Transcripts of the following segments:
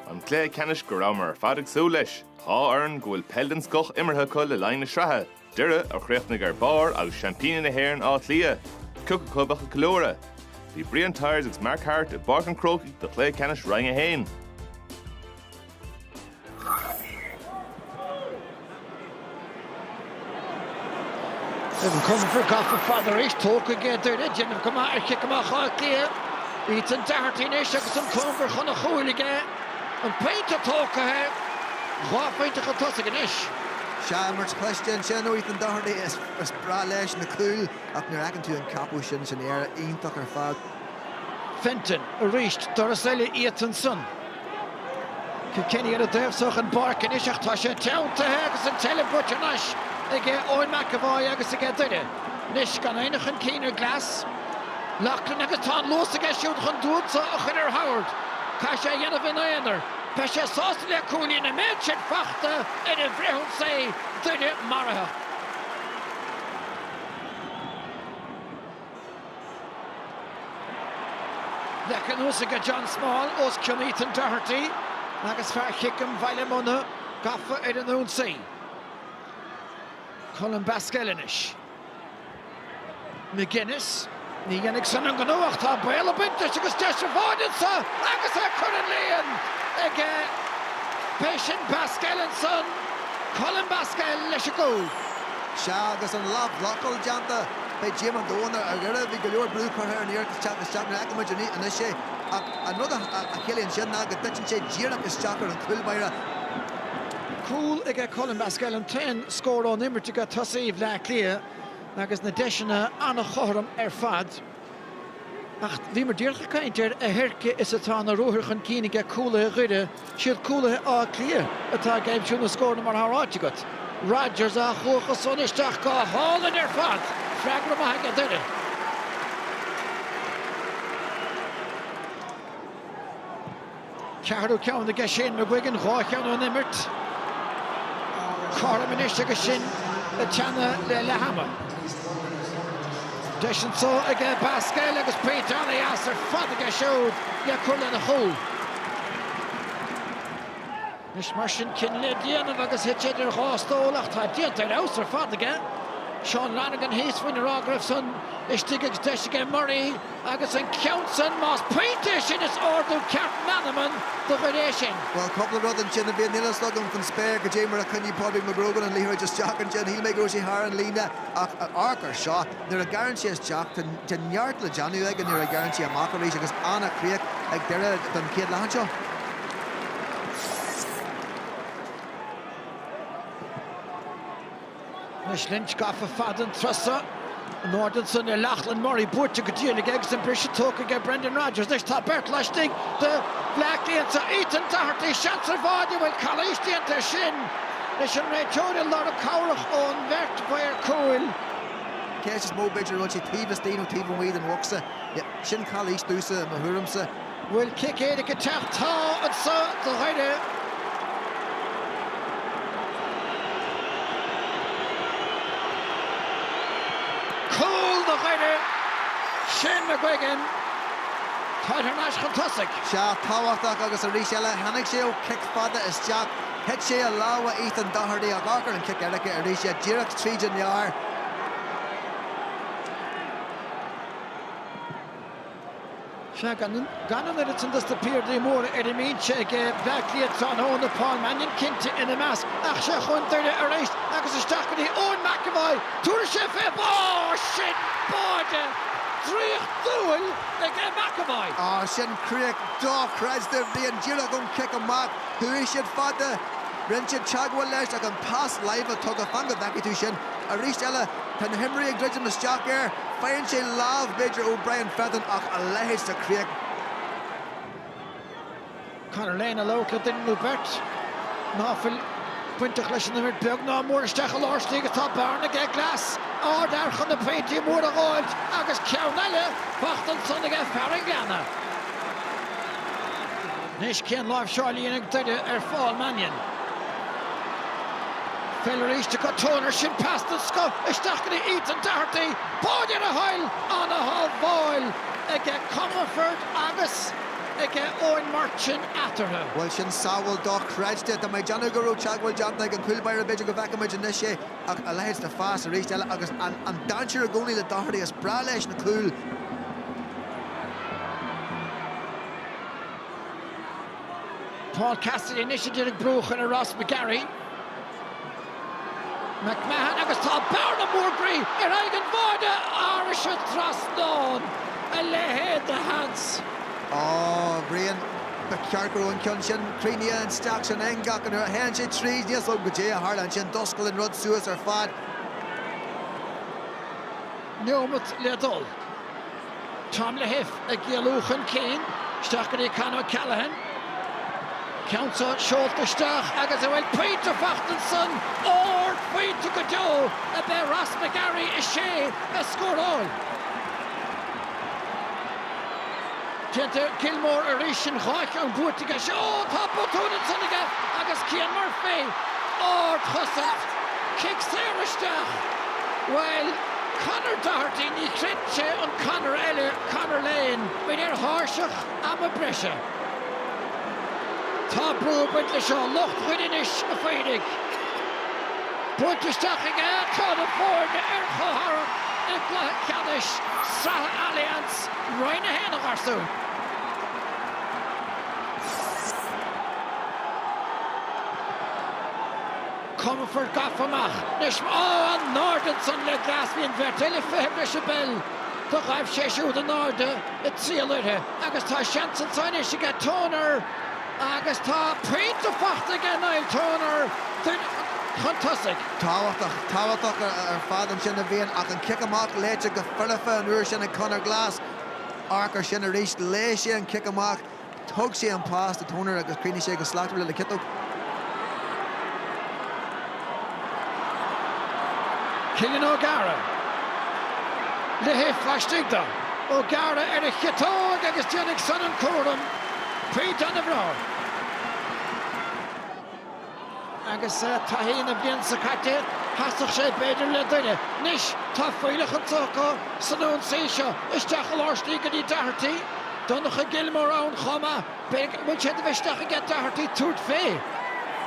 An cluiche ceannais go rabhamar ar fad ag súil leis. Dhá fhoireann go bhfuil peil den scoth imeartha acu le linn na sraithe, Doire a chríochnaigh ar barr agus seaimpíní na hÉireann Áth Cliath, cioc acu bheadh ag ceiliúradh. Bhí Brian Tyers agus Mark Harte i bPáirc an Chrócaigh do chluiche ceannais Roinn 1. Evan Comerford gafa fada arís, tógtha aige Doire, ag déanamh go maith ar chic amach Átha Cliath. Ethan Doherty anois agus an cóngar chun an chúil aige. An pointe tógtha, dhá phointe chun tosaigh anois. Sea, imirt chliste ansin ó Ethan Doherty. Is breá leis na cúil ach nuair a fheiceann tú an ceapadh sin san aer, iontach ar fad. Fenton arís, doras eile iata ansan. Kilkenny ar a dtaobhsa den bpáirc anois ach tá sé teanntaithe agus an tseilbh buaite anois aige Eoin McEvoy agus aige Doire. Anois gan éinne chun cinn ar Glass, Loughlin agus tá an luas aige siúd chun duanta a chur ar Howard. Caithfidh sé a dhéanamh ina aonar. Beidh sé sásta le cúilín an méid sin faighte ar an bhfrithionsaí, Doire maraithe. Leagtha anuas aige John Small os cionn Ethan Doherty agus fear Chiceam Bhaile Munna gafa ar an ionsaí. Colm Basquel anois. McGuinness, ní dhéanfaidh san an gnó ach tá baol ag baint leis agus deis an bháide anso agus é curtha don líon aige. B'é sin Basquel ansan, Colm Basquel leis an gcúl. Sea agus an leathbhlocáil déanta Beidh díoma an domhain ar Dhoire. Bhí go leor brú curtha ar an iarracht ag teacht isteach nuair a fheicfidh muid anois é ach an rud a chiallaíonn sin ná go dtiteann sé díreach isteach ar an gcúl báire. Cúl aige Colm Basquel, an t-aon scór ón imirt aige tosaí Bhleá Cliath agus na deiseanna an-chothrom ar fad. Ach bhíomar díreach ag caint ar a theirce is atá na ruathair chun cinn aige cúlaithe Dhoire. Siad cúlaithe Átha Cliath atá ag aimsiú na scóranna mar atá ráite agat. Rogers á chuach os cionn isteach. Go hálainn ar fad! Freagra maith aige, Doire. Ceathrú ceann aige Shane McGuigan, dhá cheann ón imirt. Cothrom anois agus sinn ag teannadh le leath ama. Deis anso aige Basquel agus pointe ana-dheas ar fad aige siúd le cur lena chúl. Anois mar sin cinneadh le déanamh agus thit idir dhá stól ach tá déanta ar fheabhas ar fad aige. Seán Lonergan thíos fúinn á rá go raibh san istigh agus deis aige Murray agus an ceann san, más pointe é sin is ardú ceart meanman do Dhoire é sin. Bhuel cúpla rud ansin a Bhriain, níl a fhios agam faoin spéir goidé mar a choinnigh Pádraig McGrogan an liathróid isteach ansin. Shíl mé go raibh sé thar an líne. ach amharc air seo, nuair a ghearrann sé isteach, tá neart le déanamh aige nuair a ghearrann sé amach arís agus an-chríoch ag deireadh den chéad leath anseo. Anois Lynch gafa fada an turas so. In airde ansan ar Lachlan Murray. Buaite go diail aige agus an briseadh tógtha aige Brendan Rogers. Anois tá beirt laistigh de. Bloc déanta. Ethan Doherty, seans ar bháide bhfuil calaois déanta air sin. leis an réiteoir ag lorg cabhrach ón bheirt mhaor cúil. An cheist is mó b'fhéidir an bhfuil sé taobh istigh nó taobh amuigh den bhocsa. Sin calaois domhsa, i mo thuairimse. Bhfuil cic éirice ag teacht? Tá anseo do Dhoire. Cúl do Dhoire. Shane McGuigan táid thar n-ais chun tosaigh. Sea tábhachtach agus arís eile tháinig sé ó chic fada isteach. Thit sé i lámha Ethan Doherty ach amharc ar an chic éirice arís, é díreach tríd an lár. Sea, gan an oiread san dos na piardaí móra ar a mbinse ag Bleá Cliath tráthnóna, Paul Mannion cinnte ina measc, ach seo chun Doire arís agus isteach go dtí Eoin McEvoy. Tabharfaidh sé fé bharr! Sin báide draíochtúil ag McEvoy. Ó, sin críoch dochreidte a Bhriain, díreach ón chic amach. Chuaigh siad fada. Rinn siad teagmháil leis ach an pas láimhe tugtha, fan go bhfeicfidh tú sin. Arís eile, tá na himreoirí ag druidim isteach air. Faigheann sé lámh, b'fhéidir, ó Brian Fenton ach a leithéid de chríoch. Conor Lane ag labhairt le duine nó beirt ná fuil bainteach leis an imirt beag ná mór isteach i lár istigh agus tá bearna aige. Glass ardfhear chun na pointí móra a ghabháilt agus ceann eile faighte ansan aige, fear an Ghleanna. Anois cén láimhseáil a dhéanfaidh Doire ar Phaul Mannion? Pheil arís acu, Toner, sin pas den scoth isteach go dtí Ethan Doherty, báide ar a thoil! Ana-shábháil aige Comerford agus aige Eoin Murchan eatarthu. Bhuel sin sábháil dochreidte. Tá mé ag déanamh go raibh teagmháil déanta ag an chúl báire, b'fhéidir go bhfeicfidh muid anois é ach a leithéid de phas arís eile agus an dainséar i gcónaí le Doherty, is breá leis na cúil. Paul Cassidy anois idir ag brú chuile Ross McGarry. McMahon agus tá bearna mór groí ar aghaidh an bháide arís, an trasnán, a leithéid de sheans. Ó, Bhrian, ba cheart go raibh an ceann sin críochnaithe isteach san eangach ach nuair a théann sé tríd níl a fhios agam goidé a tharla ansin d'oscail an rud suas ar fad. neomat le dul. Tom Lahiff ag éalú chun cinn. Isteach go dtí Con O'Callaghan. Ceann seo seolta isteach agus an bhfuil pointe faighte ansan? Ard phointe go deo a b'é Ross McGarry is é a scóráil. Donncha Gilmore arís an dhá cheann buaite aige seo. Ó tá botún ansan aige agus Cian Murphy ard chosaint. Cic saor isteach. Bhuel. Conor Doherty, Ní chreid sé an Conor eile, Conor Lane, muid ar thairseach ama breise. Tá brú ag baint leis seo, lucht Win Anois a Phoirigh. Buailte isteach aige tá na foirne ar chomhmharc i gcluiche ceannais sraithe Allianz, Roinn 1 a gharsúin. Comerford gafa amach anois ag gabháil in airde ansan le Glass bhí an bheirt eile fiche breis a beil. Do ghaibh sé siúd in airde ag triall uirthi agus tá seans anso anois aige Toner agus tá pointe faighte aige Niall Toner Doire chun tosaigh. Tábhachtach, tábhachtach ar fad ansin a bhíonn ach an cic amach léite go foirfe an uair sin ag Conor Glass. Amharc ar sin arís, léigh sé an cic amach Thug sé an pas do Toner agus chríochnaigh sé go slachtmhar le ciotóg. Cillian Ó Gadhra Lahiff laistigh de. Ó Gadhra ar a chiotóg agus déanfaidh san an cúram cuí don Aibreán. Agus taithí na blianta caite, sheasfadh sé b'fhéidir le Doire, anois tá fuílleach anso acu san ionsaí seo isteach i lár slí go dtí Doherty. Donncha Gilmore ann chomh maith. An bhfuil sé de mhisneach aige Doherty tabhairt fé.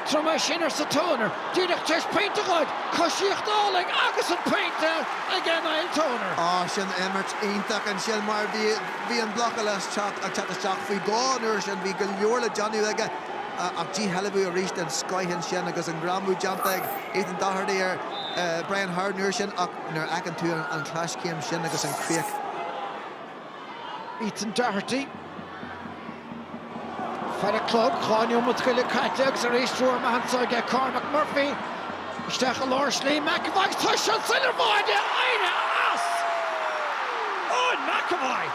Tabhair dom é sin, arsa Toner. Díreach tar éis pointe a ghoid. Coisíocht álainn agus an pointe aige Niall Toner. Á, sin imirt iontach ansin mar bhí an blocáil isteach ag teacht isteach faoi dhó an uair sin. Bhí go leor le déanamh aige. ach díshealbhú arís den scoth ansin agus an greamú déanta ag Ethan Doherty ar Brian Howard an uair sin ach nuair a fheiceann tú an chleaschéim sin agus an críoch. Ethan Doherty, ar an gclog, dhá neomat go leith caite agus arís triúr amach anso aige, Cormac Murphy, Isteach i lár slí McEvoy agus tá san tsuil ar bháide, éirigh as! Eoin McEvoy!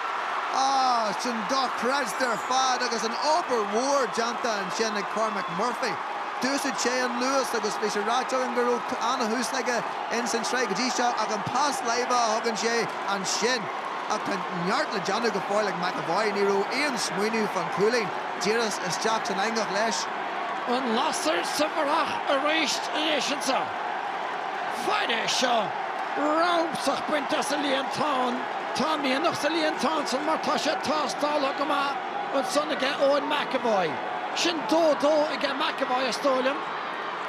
Ah, sin dochreidte ar fad agus an obair mhór déanta ansin ag Cormac Murphy. D'úsaid sé an luas agus bhí sé ráite agam go raibh an-thús aige ins an tsraith go dtí seo ach an pas láimhe a thugann sé ansin. Ach tá neart le déanamh go fóill ag McEvoy, ní raibh aon smaoineamh fán chúilín. Díreach isteach san eangach leis. An lasair sa bharrach arís leis ansa. Fair é seo! Rabhsach bainte as an líontán. Tá mianach sa líontán san mar tá sé tástáltha go maith ansan aige Eoin McEvoy. Sin dó-dó aige McEvoy is dóigh liom.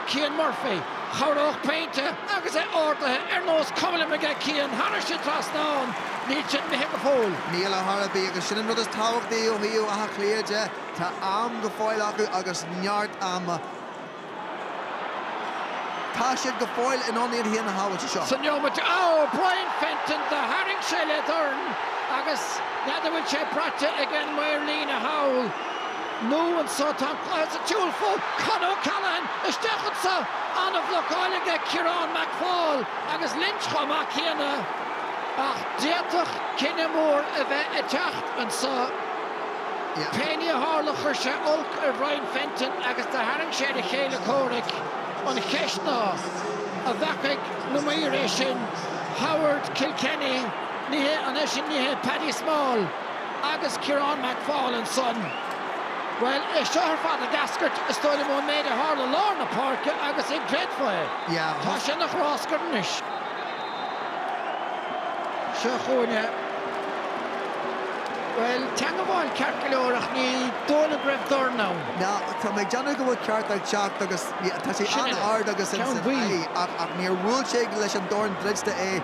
Cian Murphy. Chabhródh pointe agus é ardaithe ar nós cuma liom aige Cian thairis an trasnán. Níl sin imithe go fóill. Níl a chor ar bith, agus sin an rud is tábhachtaí ó thaobh Átha Cliath de. Tá am go fóill acu agus neart ama. Tá siad go fóill in ann iad féin a shábháilt anseo. Fan nóiméad, ó, Brian Fenton do tharraing sé le dorn agus n'fheadar bhfuil sé braite aige an maor líne thall nó anseo. Tá an cluiche sa tsiúl fós. Con O'Callaghan isteach anseo. An-bhlocáil aige Ciarán McFaul agus Lynch chomh maith céanna. Ach d'fhéadfadh cinneadh mór a bheith ag teacht anseo. Pé ní a tharla chuir sé olc ar Bhrian Fenton agus do tharraing sé ar a chéile comhraic. An cheist ná, an bhfeacaigh na maoir é sin, Howard, Kilkenny, ní hé, an é sin ní hé Paddy Small agus Ciarán McFaul ansan? Bhuel, é seo ar fad ag eascairt, is dóigh liom, ón méid a tharla lár na páirce agus an gcreidfeá é, tá sé ina ghráscar anois. Seo chugainn é. Bhuel, teangmháil ceart go leor ach ní dóigh liom go raibh dorn ann. Ná tá mé ag déanamh go bhfuil cárta ag teacht agus tá sé an-ard agus ins an aghaidh ach níor bhuail sé leis an dorn druidte é.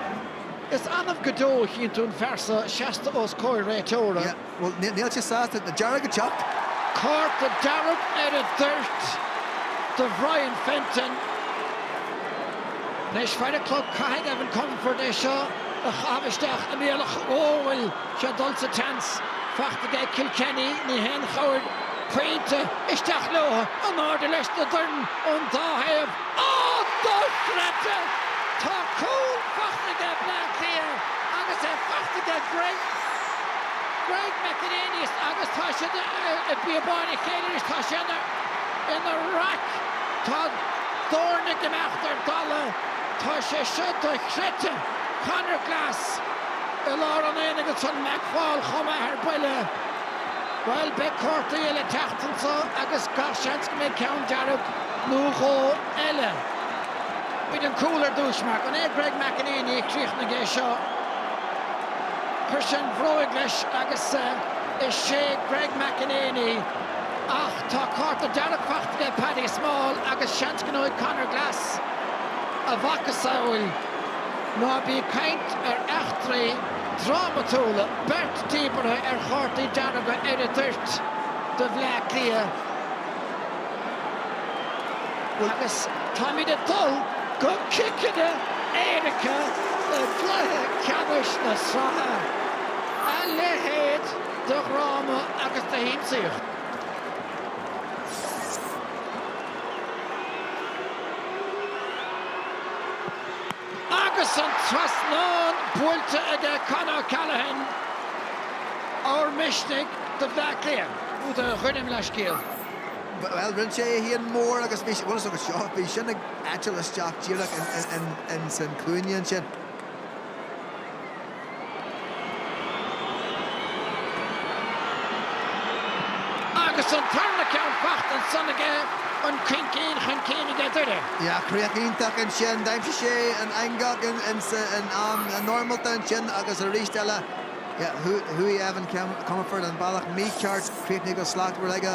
Is annamh go deo a chíonn tú an fear seo seasta os comhair réiteora. Bhuel, níl sé sásta, tá dearg ag teacht. Cárta dearg ar an dtoirt do Bhrian Fenton. Anois fair an clog, caithfidh Evan Comerford é seo a chaitheamh isteach i mbealach go bhfuil sé ag dul sa tseans. Faighte aige Kilkenny, ní haon chabhair pointe. Isteach leo, in airde leis na doirn ón dá thaobh. Á, dochreidte! Tá cúl faighte aige Bleá Cliath agus é faighte aige Greg, Greg McEneaney agus tá siad i bpíobáin a chéile arís. Tá sé ina raic. Tá doirne ag imeacht ar dalladh. Tá sé seo dochreidte! Conor Glass i lár an aonaigh agus an McFaul chomh maith ar buile. Bhuel, beidh cártaí eile ag teacht anseo agus gach seans go mbeidh ceann dearg. nó dhó eile. Bíonn an cúl ar dtús mar go ndeir Greg McEneaney a chríochnaigh é seo, chuir sé an bhróig leis agus is é Greg McEneaney ach tá cárta dearg faighte aige Paddy Small agus seans go ngeobhaidh Conor Glass a mhacasamhail ná bí ag caint ar eachtraí drámatúla beirt díbeartha ar chártaí dearga ar an dtoirt do Bhleá Cliath. Agus táimid ag dul go ciceanna éirice i gcluiche ceannais na sraithe. A leithéid de dhráma agus de shiamsaíocht! Agus an trasnán buailte aige Con O'Callaghan, ábhar misnigh do Bhleá Cliath, do Dhoire, mo leithscéal. Bhuel, rinne sé é féin mór agus bhí, bhuel, is dócha seo, bhí sin ag eitilt isteach díreach in san cúinne ansin. Agus an tarna ceann faighte ansan aige, an caoin cinn chun cinn aige Doire. Bhí críoch iontach ansin. D'aimsigh sé an eangach insa in am normálta ansin agus arís eile. Chuaigh Evan Comerford an bealach mícheart, críochnaithe go slachtmhar aige.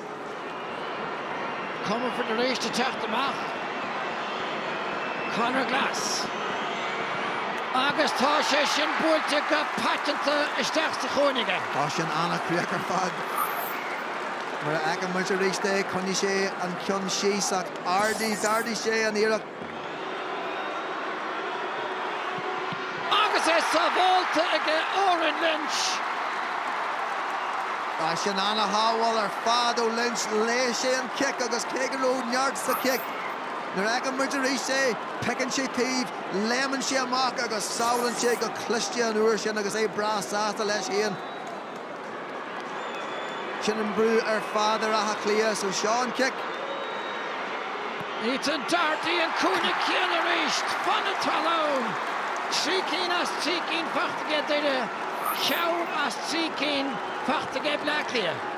Comerford tar éis teacht amach. Conor Glass. Agus tá sé sin buailte go paiteanta isteach sa chúinne aige. Tá sin an-chríoch ar fad. Nuair a fheiceann muid arís é, choinnigh sé an ceann síos ach ardaigh, d'ardaigh sé an iarracht. Agus é sábháilte aige Odhrán Lynch. Tá sin ana-shábháil ar fad ó Lynch. Léigh sé an cic agus cé go raibh neart sa chic, nuair a fheiceann muid arís é, piocann sé taobh, léimeann sé amach agus sábhálann sé go cliste an uair sin agus é breá sásta leis féin. Sin an brú ar fad ar Áth Cliath so seo an cic. Ethan Doherty an cúinne céanna arís, fan na talún! Trí cinn as trí cinn faighte aige Doire, ceann as trí cinn faighte aige Bleá Cliath.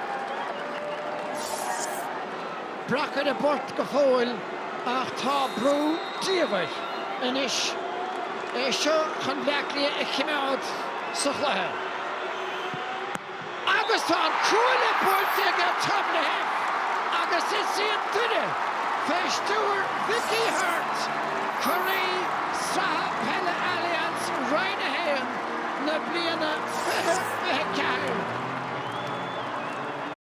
breac ar an bport go fóill ach tá brú diamhair anois é seo chun Bleá Cliath a chimeád sa chluiche agus tá an cuaille buailte aige Tom Lahiff agus is iad Doire fé stiúir Mhickey Harte curaidh Sraithe Peile Allianz Roinn 1 na bliana 2024.